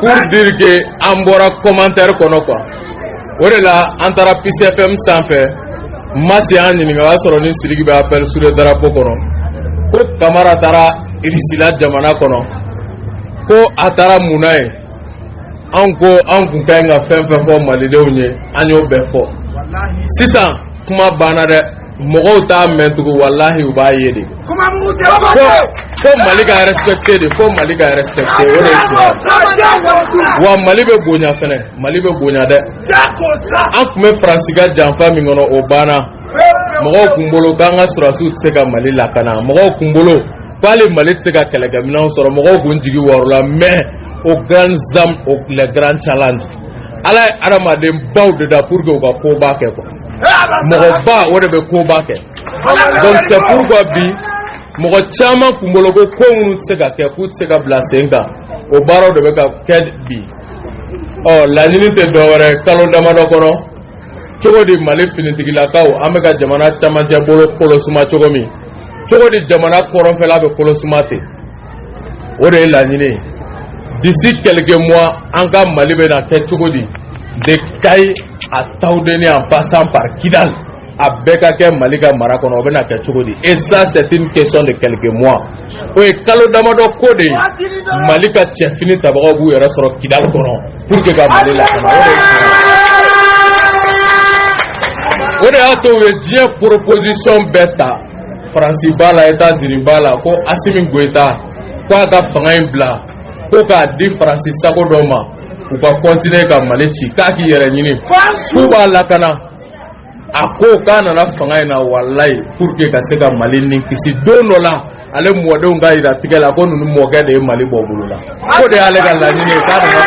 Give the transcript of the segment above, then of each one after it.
pour dire que an bɔra commentaire kɔnɔ quoi o de la an taara Peace FM sanfɛ Masi y'an ɲininka o y'a sɔrɔ ni Sidiki bɛ appel sur le drapeau kɔnɔ ko Kamara taara Irisila jamana kɔnɔ ko a taara mun na yen an ko an kun ka ɲi ka fɛn fɛn fɔ malidenw ye an y'o bɛɛ fɔ sisan kuma banna dɛ mɔgɔw t'a mɛn tugun walahi u b'a ye de fo mali ka respecte de fo mali ka respecte o de ye tiɲɛ wa mali bɛ bonya fɛnɛ mali bɛ bonya dɛ an kun bɛ faransi ka janfa min kɔnɔ o banna mɔgɔw kun bolo k'an ka sɔrɔdasiw tɛ se ka mali lakana mɔgɔw kun bolo k'ali mali tɛ se ka kɛlɛkɛminɛnw sɔrɔ mɔgɔw kun jigi waarola mais aux grands hommes le grand challenge ala ye adamaden baw de da pour que u ka ko ba kɛ quoi mɔgɔ ba o de bɛ ko ba kɛ donc c'est pourquoi bi mɔgɔ caman kun bolo ko ko minnu tɛ se ka kɛ k'u tɛ se ka bila sen kan o baaraw de bɛ ka kɛ bi ɔ laɲini tɛ dɔwɛrɛ kalo damadɔ kɔnɔ cogo di mali finitigilakaw an bɛ ka jamana camancɛ bolo kolosuma cogo min cogo di jamana kɔrɔnfɛla bɛ kolosuma ten o de ye laɲini ye d'ici quelques mois an ka mali bɛna kɛ cogo di de kayi à tawudeni en passant par kidal a bɛɛ ka kɛ mali ka mara kɔnɔ o bɛna kɛ cogo di et ça c'est une question de quelques mois o ye kalo damadɔ ko de ye mali ka cɛfini tabagaw b'u yɛrɛ sɔrɔ kidal kɔnɔ pour que ka mali lakana o de ye o de y'a to u ye diɲɛ proposition bɛɛ ta faransi b'a la etazini b'a la ko asimi goyita ko a ka fanga in bila ko k'a di faransi sago dɔ ma u ka kɔntine ka mali ci k'a k'i yɛrɛ ɲini k'u b'a lakana a ko k'a nana fanga in na walayi pour que ka se ka mali ni kisi don dɔ la ale mɔdenw ka yira tigɛ la ko ninnu mɔkɛ de ye mali bɔ bolo la k'o de y'ale ka laɲini ye k'a nana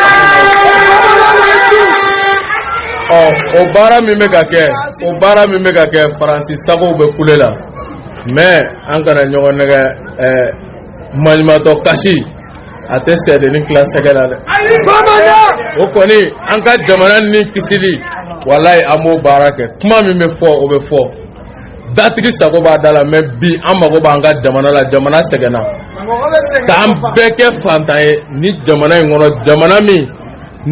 ɔ o baara min bɛ ka kɛ o baara min bɛ ka kɛ faransi sagow bɛ kule la mais an kana ɲɔgɔn nɛgɛ ɛɛ eh, maɲumatɔ kasi a tɛ sɛdennin tila sɛgɛ la dɛ o kɔni an ka jamana ni kisili walayi an b'o baara kɛ kuma min bɛ fɔ o bɛ fɔ datigi sago b'a da la mais bi an mago b'an ka jamana la jamana sɛgɛnna k'an bɛɛ kɛ fantan ye nin jamana in kɔnɔ jamana min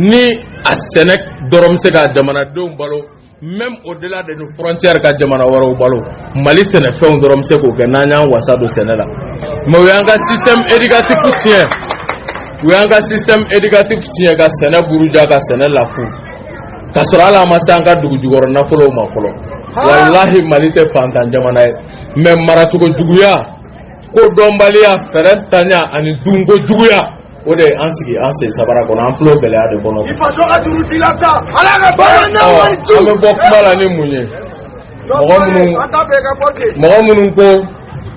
ni a sɛnɛ dɔrɔn bɛ se ka jamanadenw balo même au-delà de nos frontières ka jamana wɛrɛw balo mali sɛnɛfɛnw dɔrɔn bɛ se k'o kɛ n'an y'an wasa don sɛnɛ la mais u y'an ka système éducatif tiɲɛ u y'an ka système éducatif tiɲɛ ka sɛnɛ buruja ka sɛnɛ lafu ka sɔrɔ hali an ma se an ka dugu jukɔrɔ nafolow ma fɔlɔ walahi mali tɛ fantan jamana ye mɛ maracogo juguya kodɔnbaliya fɛɛrɛtanya ani dunko juguya o de an sigi an sen sabara kɔnɔ an filɛ gɛlɛya de kɔnɔ an bɛ bɔ kuma la ni mun ye mɔgɔ minnu mɔgɔ minnu ko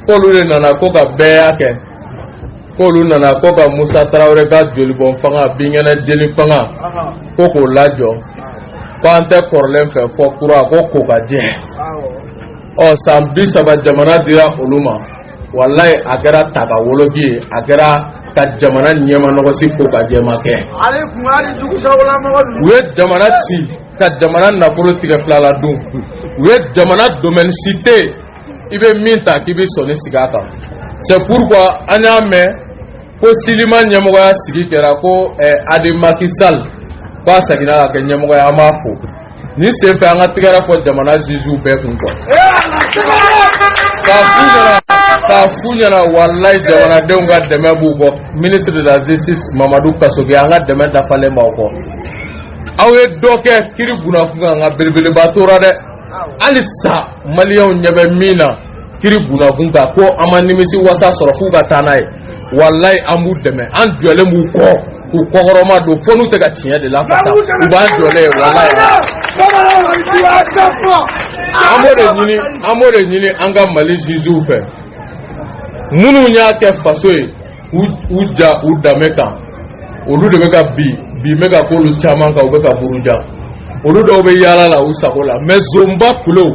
k'olu de nana ko ka bɛɛya kɛ k'olu nana ko ka musa tarawele ka jolibɔn fanga binkɛnɛ jeli fanga ko k'o lajɔ ko an tɛ kɔrɔlen fɛ fo kura ko kokajɛ ɔ san bisaba jamana dira olu ma walayi a kɛra ta ka woloki ye a kɛra ka jamana ɲɛmanɔgɔsi kokajɛ ma kɛ u ye jamana ci ka jamana nafolo tigɛ fila la dun u ye jamana domɛni si tɛ yen i bɛ min ta k'i bɛ sɔnni sigi a kan c'est pourquoi an y'a mɛn ko silima ɲɛmɔgɔya sigi kɛra ko eh, hadi maki sal k'a seginna ka kɛ ɲɛmɔgɔ ye an b'a fo nin senfɛ an ka tigɛrafɔ jamana ziziw bɛɛ kun kɔ k'a f'u ɲɛna k'a f'u ɲɛna walayi jamanadenw ka dɛmɛ b'u kɔ ministre de la justice mamadu kasoge an ka dɛmɛ dafalen b'aw kɔ aw ye dɔ kɛ kiri bunda kunkan nka belebeleba tora dɛ hali sa maliyɛnw ɲɛ bɛ min na kiri bunda kunkan ko an ma nimisiwasa sɔrɔ f'u ka taa n'a ye walayi an b'u dɛmɛ an jɔlen b'u kɔ k'u kɔkɔrɔmadon fo n'u tɛ ka tiɲɛ de lafasa u b'an jɔlen ye walayi an b'o de ɲini an b'o de ɲini an ka mali ziziw fɛ minnu y'a kɛ faso ye u ja u danbe kan olu de bɛ ka bi bi bɛ ka k'olu caman kan u bɛ ka buruja olu dɔw bɛ yaala la u sago la mɛ zonba kulu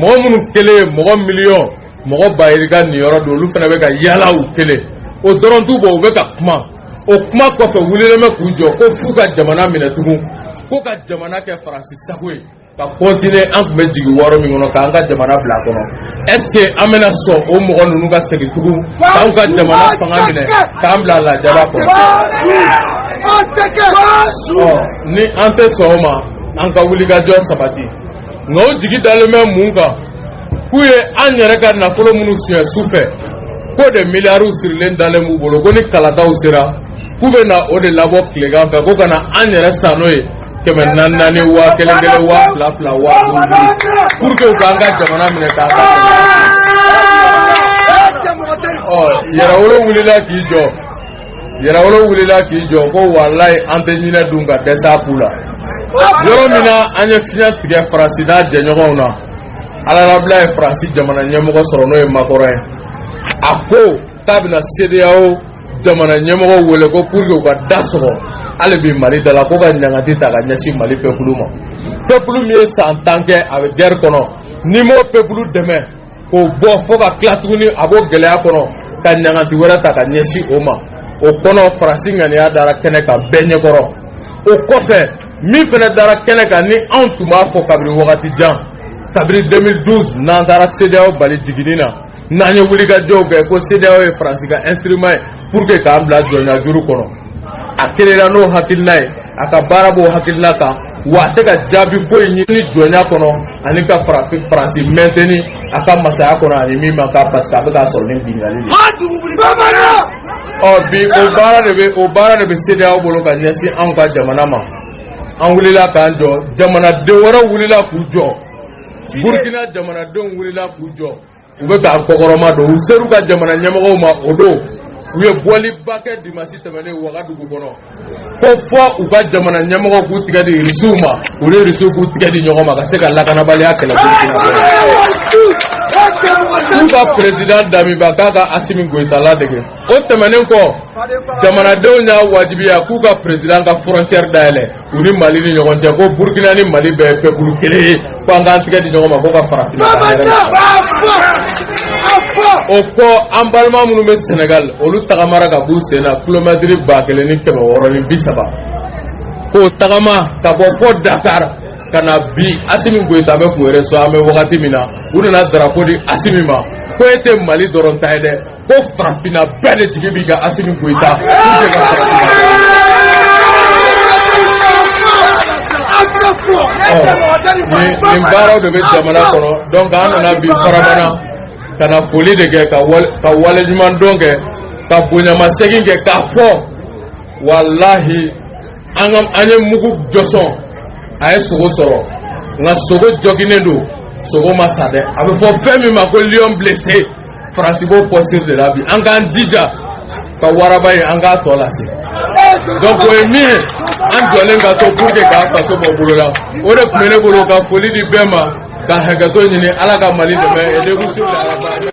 mɔgɔ minnu kelen ye mɔgɔ miliyɔn mɔgɔ bayirika niyɔrɔ dun olu fana bɛ ka yaala u kelen o dɔrɔn t'u bɔ u bɛ ka kuma o kuma kɔfɛ wulilen bɛ k'u jɔ ko f'u ka jamana minɛ tugun ko ka jamana kɛ faransi sago ye ka kɔntine an tun bɛ jigiwaaro min kɔnɔ k'an ka jamana bila kɔnɔ ɛske an bɛna sɔn o mɔgɔ ninnu ka segin tugun k'an ka jamana fanga minɛ k'an bila lajaba kɔnɔ ni an tɛ sɔn o ma an ka wulikajɔ sabati nka o jigi dalen bɛ mun kan k'u ye an yɛrɛ ka nafolo minnu suɲɛ su fɛ k'o de miliyariw sirilen dalen b'u bolo ko ni kalataw sera k'u bɛna o de labɔ tilegan fɛ ko ka na an yɛrɛ san n'o ye kɛmɛ naani naani waa kelen kelen waa fila fila waa duuru duuru pour que u k'an ka jamana minɛ k'an ka ɔ yɛrɛwolo wulila k'i jɔ yɛrɛwolo wulila k'i jɔ ko walayi an tɛ ɲinɛ dun ka dɛsɛ a ku la yɔrɔ min na an ye fiɲɛ tigɛ faransi n'a jɛɲɔgɔnw na alalabila ye faransi jamana ɲɛmɔgɔ sɔrɔ n'o ye makɔrɔ ye a ko k'a bɛna sedeyawo jamana ɲɛmɔgɔ wele ko pour que u ka da sɔgɔ hali bi mali da la ko ka ɲangati ta ka ɲɛsin mali pepulu ma pepulu min ye san tan kɛ a bɛ gɛri kɔnɔ n'i m'o pepulu dɛmɛ k'o bɔ fo ka tila tuguni a b'o gɛlɛya kɔnɔ ka ɲangati wɛrɛ ta ka ɲɛsin o ma o kɔnɔ faransi ŋaniya dara kɛnɛ kan bɛɛ ɲɛkɔrɔ o kɔfɛ min fana dara kɛnɛ kan ni anw tun b'a fɔ kabini wagati jan kabini 2012 n'an taara sedeyaw bali jiginni na n'an ye wulikajɔw kɛ ko CEDEAO ye Faransi ka instrument ye pour que k'an bila jɔnya juru kɔnɔ a créera n'o hakilina ye a ka baara b'o hakilina kan wa a tɛ ka jaabi foyi ɲini jɔnya kɔnɔ ani ka Faransi mɛntɛni a ka masaya kɔnɔ ani min ma k'a parce que a bɛ k'a sɔrɔ ni binkanni de ye. ɔ bi o baara de bɛ CEDEAO bolo ka ɲɛsin anw ka jamana ma an wulila k'an jɔ jamanaden wɛrɛw wulila k'u jɔ Burkina jamanadenw wulila k'u jɔ. u bɛ k'an kɔkɔrɔma don u ser'u ka jamana ɲɛmɔgɔw ma o don u ye bɔliba kɛ dimasi tɛmɛnen wagadugu kɔnɔ ko fɔ u ka jamana ɲɛmɔgɔw k'u tigɛ di irisiw ma u ni irisiw k'u tigɛ di ɲɔgɔn ma ka se ka lakanabaliya kɛlɛ k'u ka perezidan damiba k'a ka asimi goyita ladege o tɛmɛnen kɔ jamanadenw y'a wajibiya k'u ka perezidan ka fɔrɔncɛri dayɛlɛ u ni mali ni ɲɔgɔn cɛ ko burukina ni mali bɛɛ ye pepulu kelen ye ko an k'an tigɛ di ɲɔgɔn ma ko ka farafin o kɔ an balima minnu bɛ sɛnɛgali olu tagamara ka b'u sen na kilomɛtiri ba kelen ni kɛmɛ wɔɔrɔ ni bi saba k'o tagama ka bɔ fɔ dakar ka na bi asimi goyita bɛ k'u reçu an bɛ wagati min na u nana darapo di asimi ma ko e tɛ mali dɔrɔn ta ye dɛ ko farafinna bɛɛ de jigi b'i kan asimi goyita nin baaraw de bɛ jamana kɔnɔ donc an nana bi farabana ka na foli de kɛ ka wale ɲuman dɔn kɛ ka bonyamasegin kɛ k'a fɔ walahi an ka an ye mugu jɔsɔn a ye sogo sɔrɔ nka sogo joginnen don sogo ma sa dɛ a bɛ fɔ fɛn min ma ko lion blessé faransi b'o posture de la bi an k'an jija ka waraba ye an k'a tɔ lase donc o ye min ye an jɔlen ka to pour que k'an faso bɔ bolo la o de tun bɛ ne bolo ka foli di bɛɛ ma ka hakɛto ɲini ala ka mali dɛmɛ et de vous souhaite la